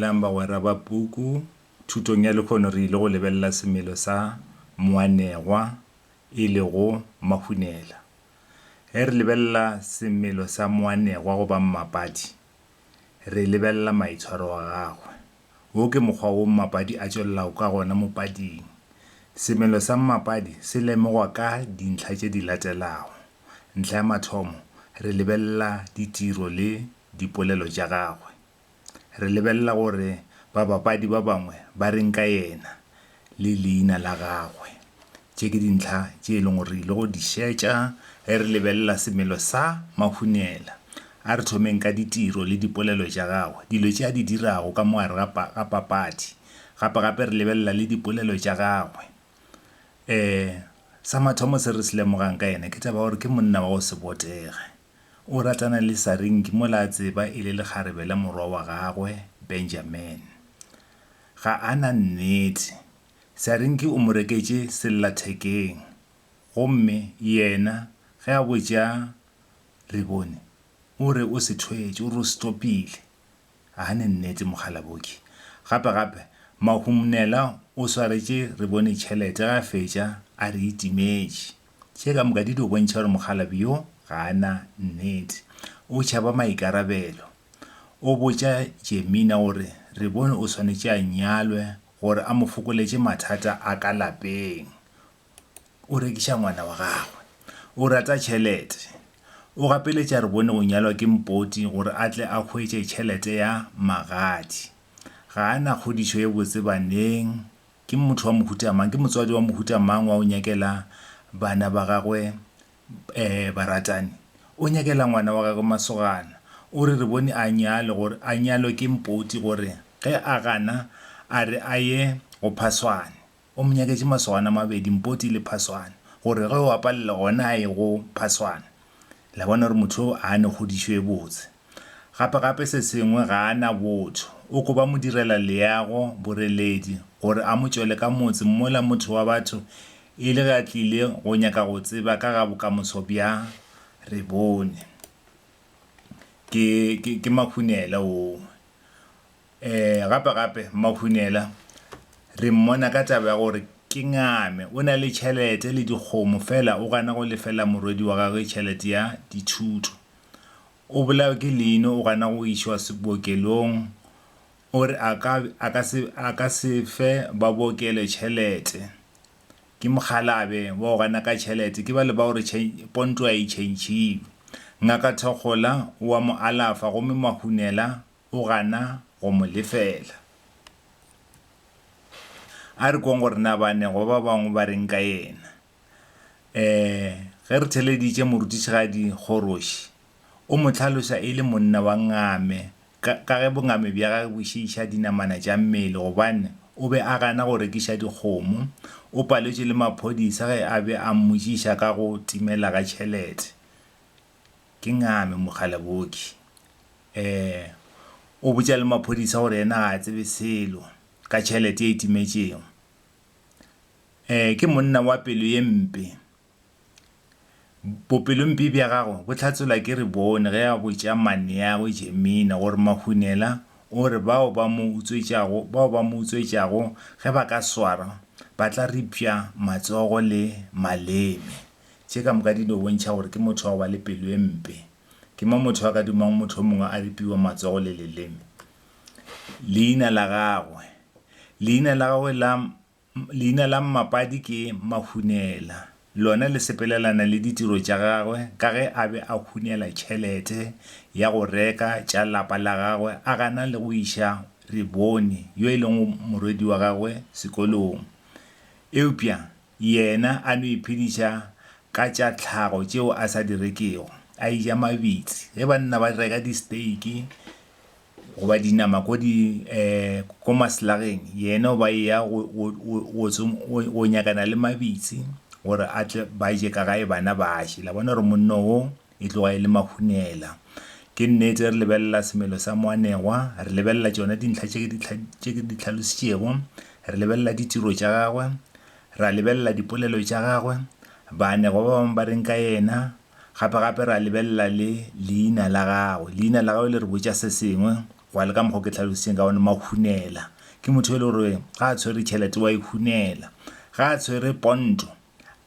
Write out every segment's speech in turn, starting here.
Dumelang bagwera ba puku. Thutong ya lekhono re ile go lebelela semelo sa moanegwa e lego mahunela. Ge re lebelela semelo sa moanegwa goba mmapadi, re lebelela maitshwaro a gagwe. Wo ke mokgwa wo mmapadi a tšwelelago ka gona mopading. Semelo sa mmapadi se lemogwa ka dintlha tše di latelago. Ntlha ya mathomo, re lebelela ditiro le dipolelo tša gagwe. Re lebelela gore babapadi ba bangwe ba reng ka yena le leina la gagwe. Tše ke dintlha tše e leng gore re ile go di šetša ge re lebelela semelo sa Mahunela. A re thomeng ka ditiro le dipolelo tša gagwe, dilo tše a di dirago ka mo gare ga papadi. Gape-gape re lebelela le dipolelo tša gagwe. Sa mathomo se re se lemogang ka yena ke taba ya gore ke monna wa go se botege. O ratana le Saringi mola a tseba e le lekgarebe la morwa wa gagwe Benjamin. Ga a na nnete. Saringi o mo reketše sellathekeng gomme yena ge a botša Rebone o re o se thwetše, o re o se topile. Gane nnete Mokgalaboki. Gape gape, Mahumnela o swaretše re bone tšhelete ge a fetša a re e timetše. Tše ka moka di dio bontšha gore mokgalabje yo ga a na nnete. O tšhaba maikarabelo. O botša Jemina gore re bone o swanetše a nyalwe gore a mo fokoletše mathata a ka lapeng. o rekiša ngwana wa gagwe o rata tšhelete o gapeletša re bone go nyalwa ke mpoti gore a tle a hwetše tšhelete ya magadi ga a na kgodišo ye botse baneng ke motho wa mohuta mang ke motswadi wa mohuta mang wa o nyakela bana ba gagwe um baratani o nyakela ngwana wa gagwe masogana o re re bone a nyale gore a nyalwe ke mpoti gore ge a gana a re a ye go phaswane O mo nyaketše masogana a mabedi, Mpoti le Phaswane, gore ge o a palela gona a ye go Phaswane. Le a bona gore motho yo a ne kgodišo e botse. Gape-gape se sengwe ga a na botho. O koba modirela-leago, boreledi, gore a mo tšwele ka motse mola motho wa batho e le ge a tlile go nyaka go tseba ka ga bokamoso bja Rebone. Ke, ke, ke makhunela woo. Ee, gape-gape Mmaphunela re mmona ka taba ya gore ke ngame. O na le tšhelete le dikgomo feela o gana go lefela morwedi wa gagwe tšhelete ya dithuto. O bolawe ke leino, o gana go išwa bookelong. O re a ka a ka se a ka se fe ba bookelo tšhelete. Ke mokgalabe wa go gana ka tšhelete, ke bale ba gore ponto ga e tšhentšhiwe. Ngaka Thokgola o a mo alafa gomme Mahunela o gana go mo lefela. A re kweng gore na baanegwa ba bangwe ba reng ka yena. Um Ge re theleditše morutišigadi Kgoroši, o mo hlaloša e le monna wa ngame ka ka ge bongame bja gagwe bo šiiša dinamana tša mmele gobane o be a gana go rekiša dikgomo. O paletšwe le maphodisa ge a be a mmotšiša ka go timela ga tšhelete. Ke ngame mogala booki. Ee, o botša le maphodisa gore yena ga a tsebe selo ka tšhelete ye e timetšego. Ee, ke monna wa pelo ye mpe. Bopelompe bja gagwe bo hlatselwa ke Rebone ge a botša maneagwe Jemina gore Mahunela o re bao ba mo utswetšago bao ba mo utswetšago ge ba ka swarwa ba tla ripša matsogo le maleme. Tše ka moka di no bontšha gore ke motho wa go ba le pelo e mpe. Ke mang motho a ka dumago motho o mongwe a ripiwa matsogo le leleme? Leina la gagwe. Leina la gagwe la leina la mmapadi ke Mahunela. Lona le sepelelana le ditiro tša gagwe ka ge a be a hunela tšhelete ya go reka tša lapa la gagwe a gana le go iša Rebone yo e lego morwedi wa gagwe sekolong. Eupša Yena a no iphediša ka tša tlhago tšeo a sa di rekego, a eja mabitsi. Ge banna ba reka disteiki goba dinama ko di, um ko maselageng, yena o ba eya go, go, go, go tso, go, go nyakana le mabitsi gore a tle ba je ka gae bana ba je. La bona gore monno wo E tloga e le mahunela. Ke nnete, re lebelela semelo sa moanegwa, re lebelela tšona dintlha tše ke di, tše ke di hlalošitšego, re lebelela ditiro tša gagwe, ra lebelela dipolelo tša gagwe, baanegwa ba bangwe ba reng ka yena, gape-gape ra lebelela le leina la gagwe. Leina la gagwe le re botša se sengwe, gwa le ka mokgwa o ke hlalošitšeng ka gona, mahunela. Ke motho yo e le gore ga a tshwere tšhelete wa e hunela, ga a tshwere ponto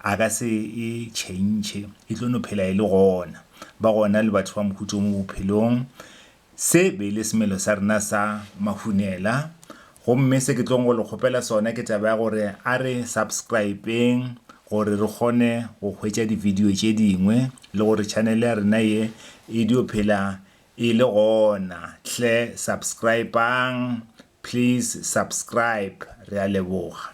A ka se e tšhentšhe, e tlo no phela e le gona. Ba gona le batho ba mohuta o mo bophelong. Se be e le semelo sa rena sa mahunela. Gomme se ke tlong go le kgopela sona ke taba ya gore a re subscribe-eng gore re kgone go hwetša di-video tše dingwe le gore channel ya rena ye e dio phela e le gona. Hle subscribe-ang Please subscribe re a leboga.